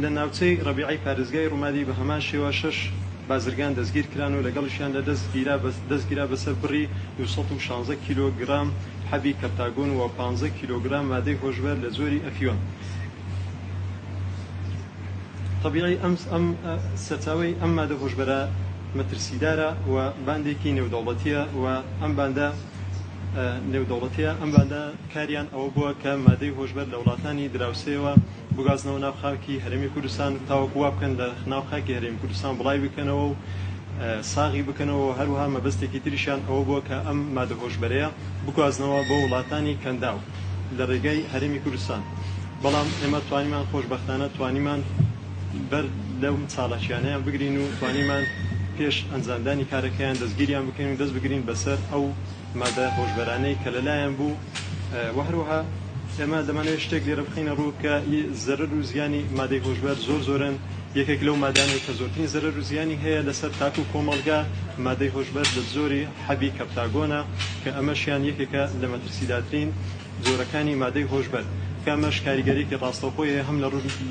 لە ناوچەی ڕەبیعەی پارێزگای ڕومادی بە هەمان شێوە شەش بازرگان دەستگیرکران و لەگەڵیشیاندا دەستگیرا بەسەر بڕی دوو سەد و شازدە کیلۆگرام حەبی کەرتاگۆن و پازدە کیلۆگرام مادەی هۆشبەر لە جۆری ئەفیۆن. تەبیعی ئەم سەرچاوەی ئەم مادە هۆشبەرە مەترسیدارە و باندێکی نێودەوڵەتییە و ئەم باندە نێودەوڵەتییە ئەم باندە کاریان ئەوە بووە کە مادەی هۆشبەر لە وڵاتانی دراوسێوە بگوازنەوە ناو خاکی هەرێمی کوردستان تاوەکو وا بکەن لە ناو خاکی هەرێمی کوردستان بڵاوی بکەنەوە و ساغی بکەنەوە و هەروەها مەبەستێکی تریشیان ئەوە بووە کە ئەم مادە هۆشبەرەیە بگوازنەوە بۆ وڵاتانی کەنداو لە ڕێگای هەرێمی کوردستان بەڵام ئێمە توانیمان خۆشبەختانە توانیمان بەر لەم چاڵاکیانەیان بگرین و توانیمان پێش ئەنجامدانی کارەکەیان دەستگیریان بکەین و دەست بگرین بەسەر ئەو مادە هۆشبەرانەی کە لەلایان بوو و هەروەها ئێمە دەمانەوێت شتێک لێرە بخینە ڕوو کە زەرەر و زیانی مادەی هۆشبەر زۆر زۆرن یەکێک لەو مادانەی کە زۆرترین زەرەر و زیانی هەیە لەسەر تاک و کۆمەڵگا مادەی هۆشبەر لە زۆری حەبی کەپتاگۆنە کە ئەمەشیان یەکێکە لە مەترسیداترین جۆرەکانی مادەی هۆشبەر کامەش کاریگەریکی ڕاستەوخۆی هەیە هەم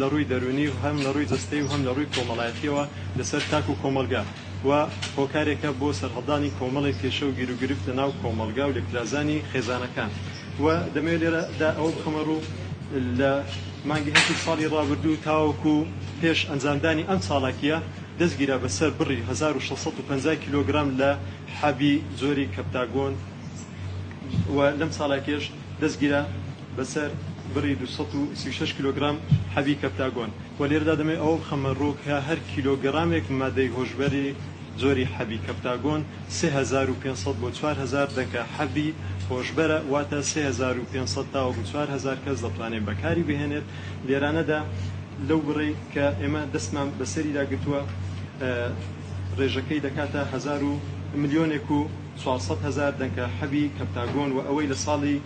لە ڕووی دەرونی و هەم لە ڕووی جەستەی و هەم لە ڕووی کۆمەڵایەتیەوە لەسەر تاک و کۆمەلگا. و هۆکارێکە بۆ سەرهەڵدانی کۆمەڵێک کێشە و گیروگرفت لە ناو کۆمەڵگا و لێکترازانی خێزانەکان و دەمەوێت لێرە دا ئەوە بخەمە ڕوو لە مانگی هەشتی ساڵی ڕابردوو تاوەکو پێش ئەنجامدانی ئەم چاڵاکیە دەستگیرا بە سەر بڕی هەزار و شەش سەد و پەنجا کیلۆگرام لە حەبی جۆری کەپتاگۆن و لەم چاڵاکیەش دەستگیرا بەسەر بڕی دوو سەد و سی و شەش کیلۆگرام حەبی کەپتاگۆن و لێرەدا دەمەوێت ئەوە بخەمە ڕوو کە هەر کیلۆگرامێک مادەی هۆشبەری جۆری حەبی کەپتاگۆن سێ هەزار و پێنج سەد بۆ چوار هەزار دەنکە حەبی هۆشبەرە واتە سێ هەزار و پێنج سەد تاوەکو چوار هەزار کەس دەتوانێت بەکاری بهێنێت لێرانەدا لەو بڕەی کە ئێمە دەستمان بەسەریدا گرتووە ڕێژەکەی دەکاتە هەزار و ملیۆنێک و چوار سەد هەزار دەنکە حەبی کەپتاگۆن و ئەوەی لە ساڵی